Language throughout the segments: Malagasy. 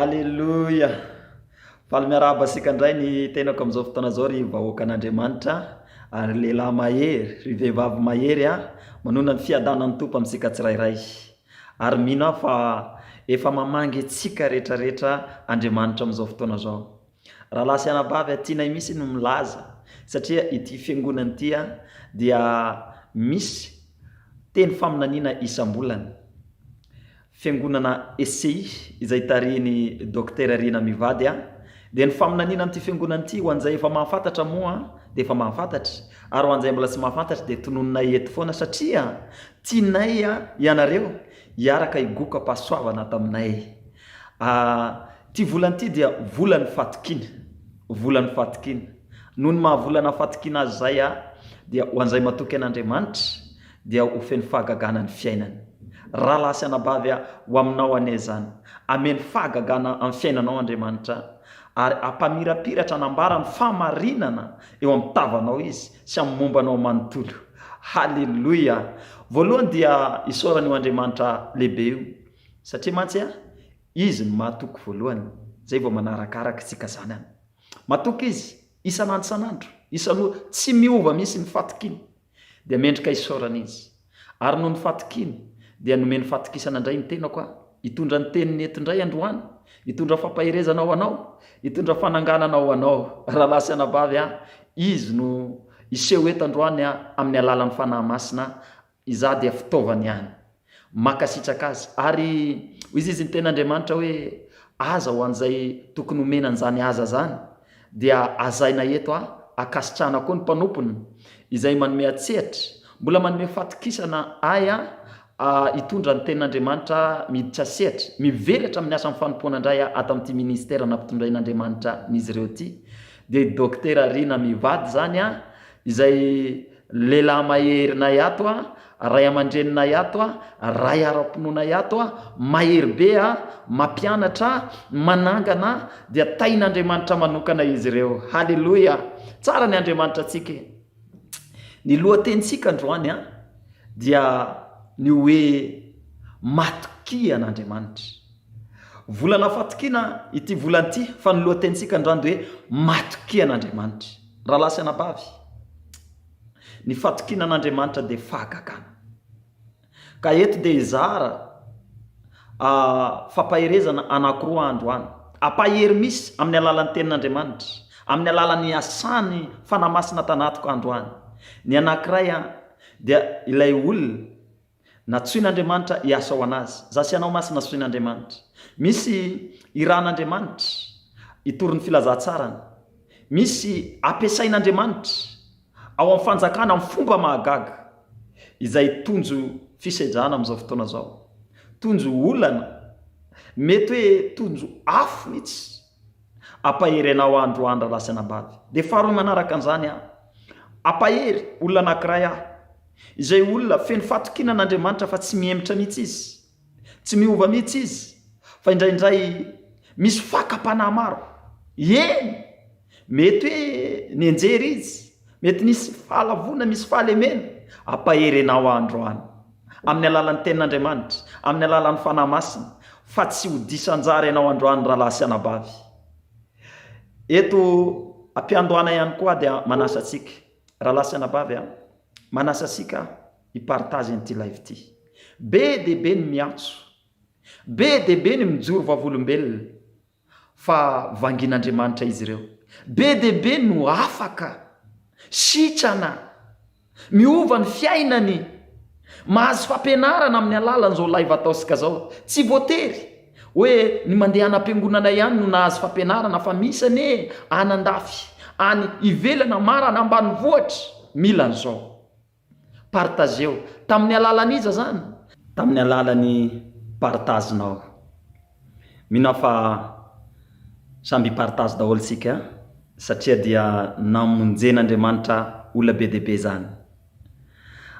Aleloia! Faly miarahaba antsika indray ny tenako amin'izao fotoana izao ry vahoakan'Andriamanitra a, ry lehilahy mahery, ry vehivavy mahery a, manonona ny fiadanan'ny Tompo amintsika tsirairay. Ary mino aho fa efa mamangy antsika rehetra rehetra Andriamanitra amin'izao fotoana izao. Rahalahy sy anabavy atinay mihitsy no milaza satria ity fiangonana ity dia misy teny faminaniana isam-bolana. Fiangonana ECI izay tarihin'i Docteur Rina Mivady a! Dia ny faminaniana amin'ity fiangonana ity ho an'izay efa mahafantatra moa dia efa mahafantatra ary ho an'izay mbola tsy mahafantatra dia tononinay eto foana satria tianay ianareo hiaraka higoka pasoavana taminay. Ity volana ity dia volan'ny fatokiana, volan'ny fatokiana. Noho ny maha volana fatokiana azy izay a, dia ho an'izay matoky an'Andriamanitra dia ho feno fahagagana ny fiainany. Rahalahy sy anabavy a, ho aminao anie izany. Hameno fahagagana amin'ny fiainanao Andriamanitra, ary hampamirapiratra hanambara ny fahamarinana eo amin'ny tavanao Izy sy amin'ny momba anao manontolo. Haleloia! Voalohany dia isaorana io Andriamanitra lehibe io, satria mantsy a, Izy no mahatoky voalohany, izay vao manarakarak tsika zanany. Matoky Izy, isan'andro isan'andro, isan'ora, tsy miova mihitsy ny fatokiny. Dia mendrika isaorana Izy. Ary noho ny fatokiny, dia nomeny fatokisana indray ny tenako aho, hitondra ny Teniny eto indray androany, hitondra fampaherezana ho anao, hitondra fananganana ho anao, rahalahy sy anabavy aho. Izy no hiseho eto androany amin'ny alalan'ny Fanahy Masina Izaho dia fitaovana ihany. Mankasitraka Azy. Ary hoy izy, izy ny tena Andriamanitra hoe aza ho an'izay tokony homena an'izany aza izany, dia hazaina eto a, ankasitrahana koa ny mpanompony izay manome an-tsehatra, mbola manome fatokisana ahy a, a hitondra ny tenin'Andriamanitra miditra sehatra, mivelatra amin'ny asan'ny fanompoana indray aho ato amin'ity ministera nampitondrain'Andriamanitra an'izy ireo ity, dia i Dokotera Rina mivady izany a, izay. Lehilahy maherinay ato a, ray amandreninay ato a, ray ara-pinoanay ato a, mahery be a, mampianatra a, manangana a, dia tahin'Andriamanitra manokana izy ireo. Haleloia! Tsara ny Andriamanitra antsika e! Ny lohatenintsika androany a, dia ny hoe matokia an'Andriamanitra. Volana fatokiana ity volana ity, fa ny lohatenintsika androany dia hoe matokia an'Andriamanitra. Rahalahy sy anabavy, ny fatokiana an'Andriamanitra dia fahagagana. Ka eto dia hizara fampaherezana anankiroa androany. Ampahery misy amin'ny alalan'ny Tenin'Andriamanitra, amin'ny alalan'ny asan'ny Fanahy Masina tanatiko androany. Ny anankiray dia ilay olona. Natsoin'Andriamanitra hiasa ho an'Azy. Za sy ianao ma tsy natsoin'Andriamanitra? Misy hiran'Andriamanitra hitory ny filazantsarany. Misy hampiasain'Andriamanitra ao amin'ny fanjakana amin'ny fomba mahagaga izay tonjo fisedrana amin'izao fotoana izao, tonjo olana, mety hoe tonjo afo mihitsy Hampahery anao aho androany rahalahy sy anabavy. Dia faharoa manaraka an'izany aho. Hampahery olona anankiray aho. Izay olona feno fahatokiana an'Andriamanitra fa tsy mihemotra mihitsy izy. Tsy miova mihitsy izy fa indraindray misy fakam-panahy maro. Eny! Mety hoe nianjera izy, mety nisy fahalavoana, misy fahalemena. Hampahery anao aho androany. Amin'ny alalan'ny Tenin'Andriamanitra, amin'ny alalan'ny Fanahy Masina, fa tsy ho diso anjara ianao androany rahalahy sy anabavy. Eto am-piandohana ihany koa aho dia manasa antsika, rahalahy sy anabavy a, manasa antsika hi-partage an'ity live ity. Be dia be ny miantso, be dia be ny mijoro vavolombelona, fa vangin'Andriamanitra izy ireo. Be dia be no afaka, sitrana, miova ny fiainany, mahazo fampianarana amin'ny alalan'izao live ataontsika izao. Tsy voatery hoe ny mandeha any am-piangonana ihany no nahazo fampianarana fa misy anie an'andafy any ivelany, maran'ambanivohitra mila an'izao. Partageo. Tamin'ny alalan'iza izany? Tamin'ny alalan'ny partage nao. Mino aho fa samy hi-partage daholo isika satria dia namonjen'Andriamanitra olona be dia be izany.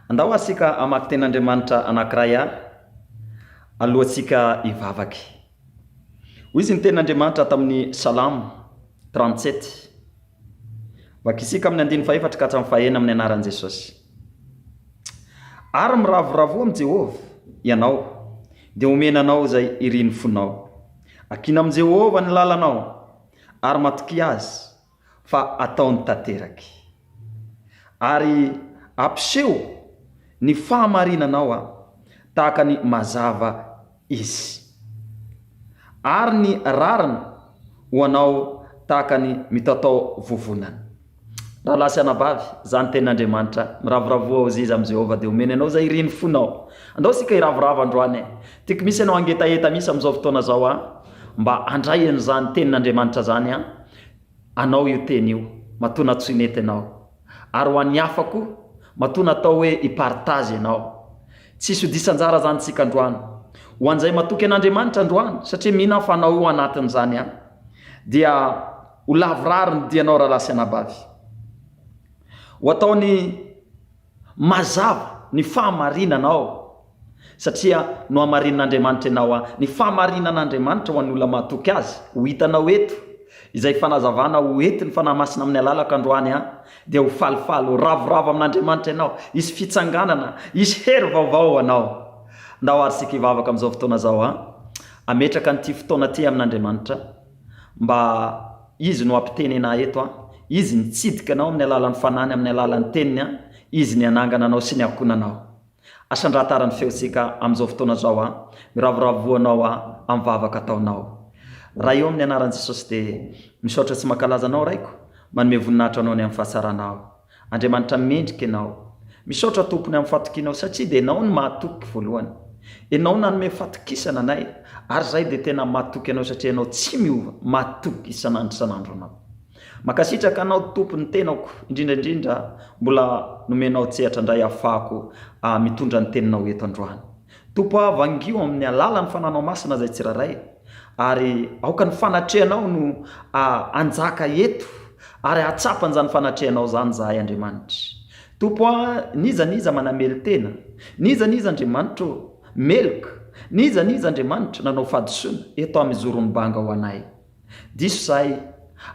Andao ary isika hamaky Tenin'Andriamanitra anankiray ary alohantsika hivavaka. Hoy izy ny Tenin'Andriamanitra tamin'ny Salamo trente-sept, Vaky isika amin'ny andininy fahefatra ka hatramin'ny fahena amin'ny anaran'i Jesosy. Ary miravoravoa amin'i Jehovah ianao, dia homena anao izay irin'ny fonao. Akina amin'i Jehovah ny lalanao, ary matokia azy, fa ataony tanteraky. Ary ampiseho ny fahamarinanao tahaka ny mazava Izy. Ary ny rariny ho anao tahaka ny mitatao vovonana. Rahalahy sy anabavy, izany ny tenin'Andriamanitra, miravoravoa ho ziza amin'i Jehovah, dia omeny anao izay irin'ny fonao. Andao isika hiravoravo androany e! Tiako misy ianao hangetaheta mihitsy amin'izao fotoana izao an! Mba handray an'izany tenin'Andriamanitra izany an! Anao io teny io, matoa natsoineta ianao. ary ho an'ny hafa koa, matoa natao hoe hi-partage ianao. Tsy sodisan-jara izany isika androany. Ho an'izay matoky an'Andriamanitra androany, satria mino aho fa anao io anatin'izany ihany, dia ho lavorary ny dianao rahalahy sy anabavy. Ho ataony mazava ny fahamarinana ao. Satria nohamarinin'Andriamanitra ianao a. Ny fahamarinan'Andriamanitra ho an'ny olona mahatoky Azy, ho hitanao eto, izay fanazavana ho entin'ny Fanahy Masina amin'ny alalako androany a, dia ho falifaly, ho ravoravo amin'Andriamanitra ianao, hisy fitsanganana, hisy hery vaovao ho anao. Ndao ary isika hivavaka amin'izao fotoana izao a. Ametraka an'ity fotoana ity amin'Andriamanitra, mba Izy no hampiteny anah eto a. Izy nitsidika anao amin'ny alalan'ny Fanahiny, amin'ny alalan'ny Teniny a. Izy nihanangana anao sy niakona anao. Asa andrahatara ny feontsika amin'izao fotoana izao an! Miravoravo voanao an! Amin'ny vavaka ataonao. Raha eo amin'ny anaran'i Jesosy dia misaotra sy mankalaza Anao Raiko, manome voninahitra Anao ny amin'ny fahatsaranao. Andriamanitra mendrika Ianao. Misaotra Tompo ny amin'ny fahatokianao satria dia Ianao no mahatoky voalohany. Ianao nanome fatokisana anay ary izahay dia tena matoky Anao satria Ianao tsy miova, matoky isan'andro isan'andro Anao. Makasitraka anao Tompo ny tenako indrindra indrindra mbola nomenao tsehatra ndray afahako mitondra ny teninao eto androany Tompo ah vangio amin'ny alalan'ny fananao masina zay tsirairay ary aoka ny fanatrehanao no hanjaka eto ary hahatsapa an'zany fanatrehanao zany zahay Andriamanitra Tompo ah n'iza n'iza manamely tena n'iza n'iza Andriamanitra ô meloka n'iza n'iza Andriamanitra nanao fahadisoana eto amin' zoron'i banga ho anay Diso zahay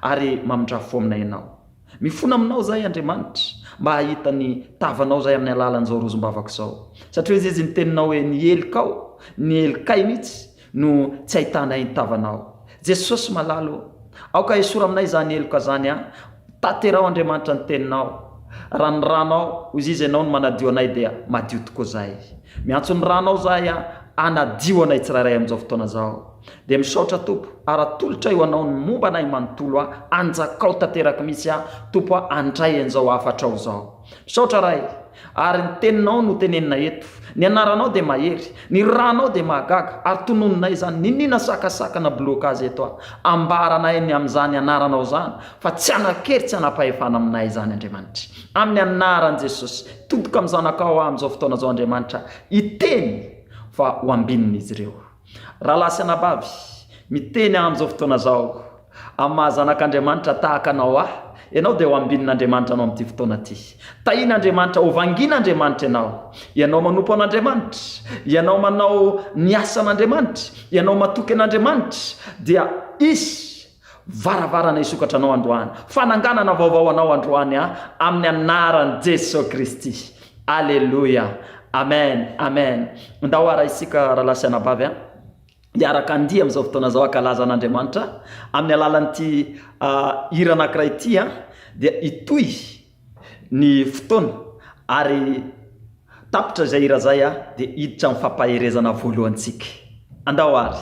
ary mamindra fo aminay ianao. Mifona aminao zahay Andriamanitra mba hahita ny tavanao zahay amin'ny alalan'izao rozom-bavako izao. Satria hoy Izy ny teninao hoe ny helikao, ny helikay mihitsy no tsy ahitanay ny tavanao. Jesosy malala o! Aoka hesory aminay izany heloka izany an! Tanteraho Andriamanitra ny teninao. Raha ny ranao, hoy Izy ianao no manadio anay dia madio tokoa zahay. Miantso ny ranao zahay an! hanadio anay tsirairay amin'izao fotoana izao. Dia misaotra Tompo ary atolotray ho Anao ny momba anay manontolo a, anjakao tanteraky mihitsy aho Tompo a, handray an'izao hafatrao izao. Misaotra Ray ary ny teninao no tenenina eto, ny anaranao dia mahery, ny ranao dia mahagaga ary tononinay izany, niniana sakasakana blocage eto a, ambara anay ny amin'izany anaranao izany fa tsy hanan-kery tsy hanam-pahefana aminay izany Andriamanitra. Amin'ny anaran'i Jesosy, todika amin'ny zanakao aho amin'izao fotoana izao Andriamanitra a, hiteny fa ho ambininy izy ireo. Rahalahy sy anabavy, miteny aho amin'izao fotoana izao, amin'ny maha zanak'Andriamanitra tahaka anao ahy, ianao dia ho ambinin'Andriamanitra anao amin'ity fotoana ity. Tahin'Andriamanitra, hovangin'Andriamanitra ianao. Ianao manompo an'Andriamanitra, ianao manao ny asan'Andriamanitra, ianao matoky an'Andriamanitra, dia Izy, Varavarana hisokatra anao androany. Fananganana vaovao ho anao androany an, amin'ny anaran'i Jesoa Kristy. Aleloia. Amen. Amen. Ndao ara isika rahalahy sy anabavy an, hiaraka handihy amin'izao fotoana izao hankalaza an'Andriamanitra amin'ny alalan'ity hira anankiray ity an, dia hitohy ny fotoana ary tapitra izay hira izay an, dia hiditra amin'ny fampaherezana voalohantsika. Andao ary.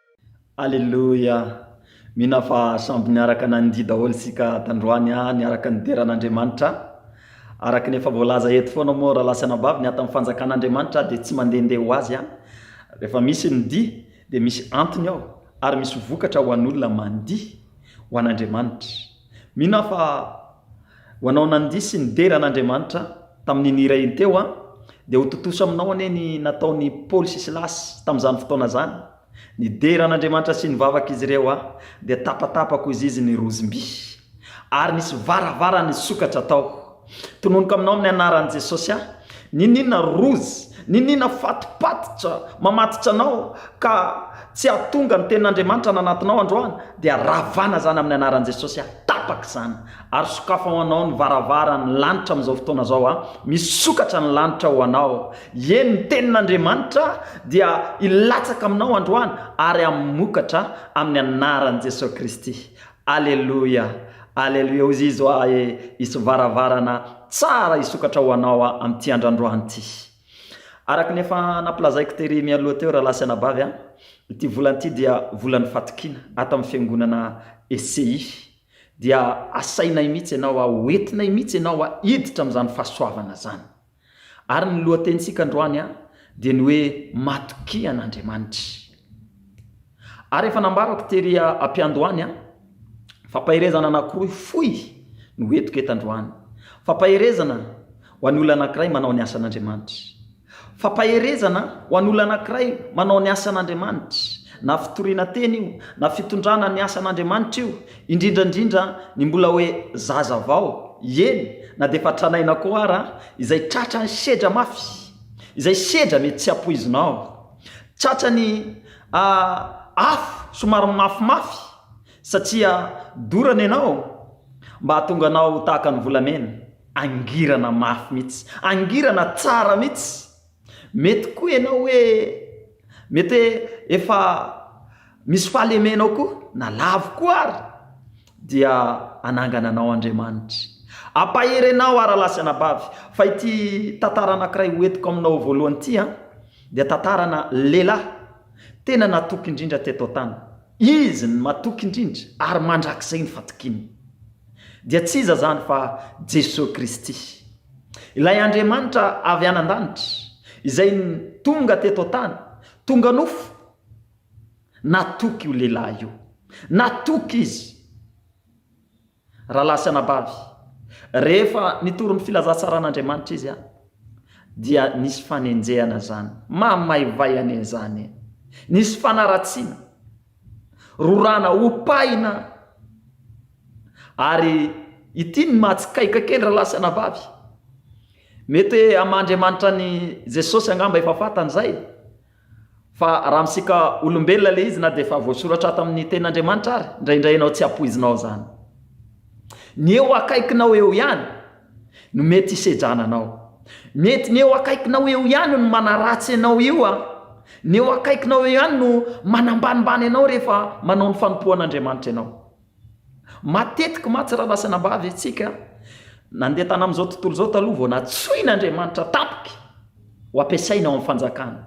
Aleloia! Mino aho fa samby niaraka nandihy daholo isika tandroany an, niaraka nidera an'Andriamanitra. Araka ny efa voalaza eto foana moa rahalahy sy anabavy ny atan'ny fanjakan'Andriamanitra dia tsy mandehandeha ho azy an. Rehefa misy ny dihy dia misy antony ao ary misy vokatra ho an'olona mandihy ho an'Andriamanitra. Mino aho fa ho anao nandiso ny dera an'Andriamanitra tamin'iny hira iny teo an, dia ho tontosa aminao anie ny nataon'i Paoly sy Silasy tamin'izany fotoana izany. Nidera an'Andriamanitra sy nivavaka izy ireo an, dia tapatapako izy izy ny rozim-by, ary nisy varavara nisokatra tao. Tononiko aminao amin'ny anaran'i Jesosy aho, n'inon'inona rozy, n'inon'inona fatopatotra mamatotra anao ka tsy hahatonga ny tenin'Andriamanitra any anatinao androany dia ravana izany amin'ny anaran'i Jesosy aho, tapaka izany, ary sokafy ho anao ny varavaran'ny lanitra amin'izao fotoana izao aho, misokatra ny lanitra ho anao, eny ny tenin'Andriamanitra dia hilatsaka aminao androany ary hamokatra amin'ny anaran'i Jesosy Kristy, Aleloia Aleloia hozy izy hoa e isy varavarana tsara isokatra ho anao hoa amin'ity andrandroany ity araka ny efa nampilazaiko tery mialoha teo rahalahy sy anabavy a ity volana ity dia volan'ny fatokiana ato amin'ny fiangonana ECI dia asainay mihitsy ianao hoa hoentinay mihitsy ianao hoa hiditra amin'izany fahasoavana izany Ary ny lohatenintsika androany dia ny hoe Matokia an'Andriamanitra. Ary efa nambarako tery ampiandohany fa paherezana anankiroa fohy no hoentiko eto androany. Fa paherezana ho an'ny olona anankiray manao ny asan'Andriamanitra. Fa paherezana ho an'olona anankiray manao ny asan'Andriamanitra. Na fitoriana teny io, na fitondrana ny asan'Andriamanitra io, Indrindra indrindra ny mbola hoe zaza vao, eny na dia efa tranaina koa ara, izay tratran'ny sedra mafy, izay sedra mety tsy ampoizinao, tratrany afo somary mafimafy satria dorana ianao mba hahatonga anao tahaka ny volamena, angirana mafy mihitsy, angirana tsara mihitsy. Mety koa ianao hoe mety hoe efa misy fahalemenao koa na lavo koa ary dia hanangana anao Andriamanitra. Hampahery anao ary lahy sy anabavy fa ity tantara anankiray ho entiko aminao voalohany ity an, dia tantarana lehilahy tena natoky indrindra teto an-tany. Izy no matoky indrindra ary mandrakizay ny fatokiany. Dia tsy iza izany fa Jesoa Kristy. Ilay Andriamanitra avy any an-danitra izay tonga teto an-tany, tonga nofo, natoky io lehilahy io. Natoky izy. Rahalahy sy anabavy, rehefa nitory ny filazantsaran'Andriamanitra izy, dia nisy fanenjehana izany. Mahamay-vay anie izany e! Nisy fanaratsiana, rorana, opahina. Ary ity ny mahatsikaiuka kely ralahy sy anabavy. Mety hoe amandriamanitra an'i Jesosy angamba efa fatany izay, fa raha amintsika olombelona ilay izy na dia efa voasoratra ato amin'ny tenin'Andriamanitra ary, indraindray ianao tsy ampoizinao izany. Ny eo akaikinao eo ihany no mety hisedrana anao. Mety ny eo akaikinao eo ihany no manaratsy anao io an! Ny eo akaikinao eo ihany no manambanimbany anao rehefa manao ny fanompoan'Andriamanitra ianao. Matetika mantsy raha lasa anabavy isika, nandeha tamin'izao tontolo izao taloha vao natsoin' Andriamanitra tampoka ho ampiasaina ao amin'ny fanjakana.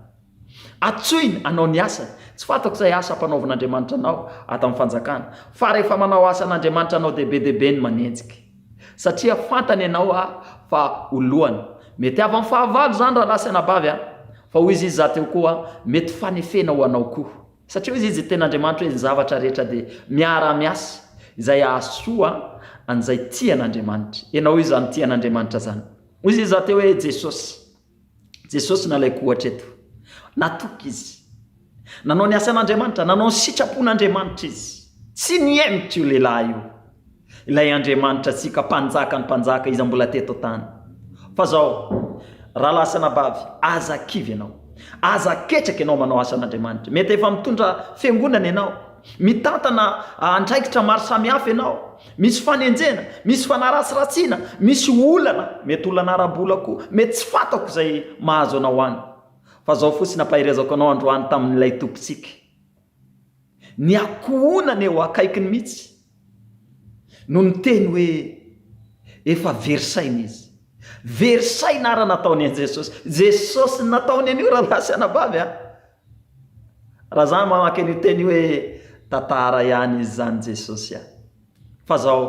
Atsoiny hanao ny asany. Tsy fantako izay asa ampanaovin' Andriamanitra anao ato amin'ny fanjakana, fa rehefa manao asan' Andriamanitra anao dia be dia be ny manenjika, satria fantany ianao fa ho lohany. Mety avy amin'ny fahavalo izany raha lasa anabavy, fa hoy izy izaho teo koa, mety fanefena ho anao koa. Satria hoy izy, Izy tena Andriamanitra hoe ny zavatra rehetra dia miara-miasa izay hahasoa an'izay tia an'Andriamanitra. Ianao hoy izy izany tia an'Andriamanitra izany. Hoy izy rahateo hoe Jesosy. Jesosy no alaiko ohatra eto. Natoky izy. Nanao ny asan'Andriamanitra, nanao ny sitrapon'Andriamanitra izy. Tsy nihemotra io lehilahy io. Ilay Andriamanitra antsika, Mpanjaka ny mpanjaka, Iza mbola teto an-tany. Fa izao, rahalahy sy anabavy, aza kivy ianao. Aza ketraka ianao manao asan'Andriamanitra. Mety efa mitondra fiangonana ianao, mitantana andraikitra maro samihafa ianao, misy fanenjena, misy fanaratsiratsiana, misy olana, mety olana ara-bola koa, mety tsy fantako izay mahazo anao any. Fa izao fotsiny ampaherezako anao androany tamin'ilay Tompontsika, Ny ankohonany eo akaikiny mihitsy no niteny hoe efa very saina izy. Very saina ara nataony an'i Jesosy. Jesosy no nataony an'io rahalahy sy anabavy a! Raha za mamaky an'io teny io hoe tantara ihany izy zany Jesosy a! Fa zao,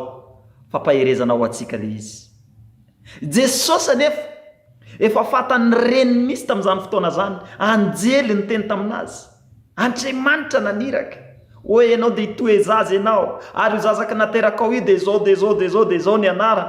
fampaherezana ho antsika le izy. Jesosy anefa efa fatan'ny reniny mihitsy tamin'izany fotoana zany, anjely niteny tamin'azy. Andriamanitra naniraka hoe enao dia hitoe zaza enao ary io zazaka naterakao io dia zao dia zao dia zao dia zao ny anarany.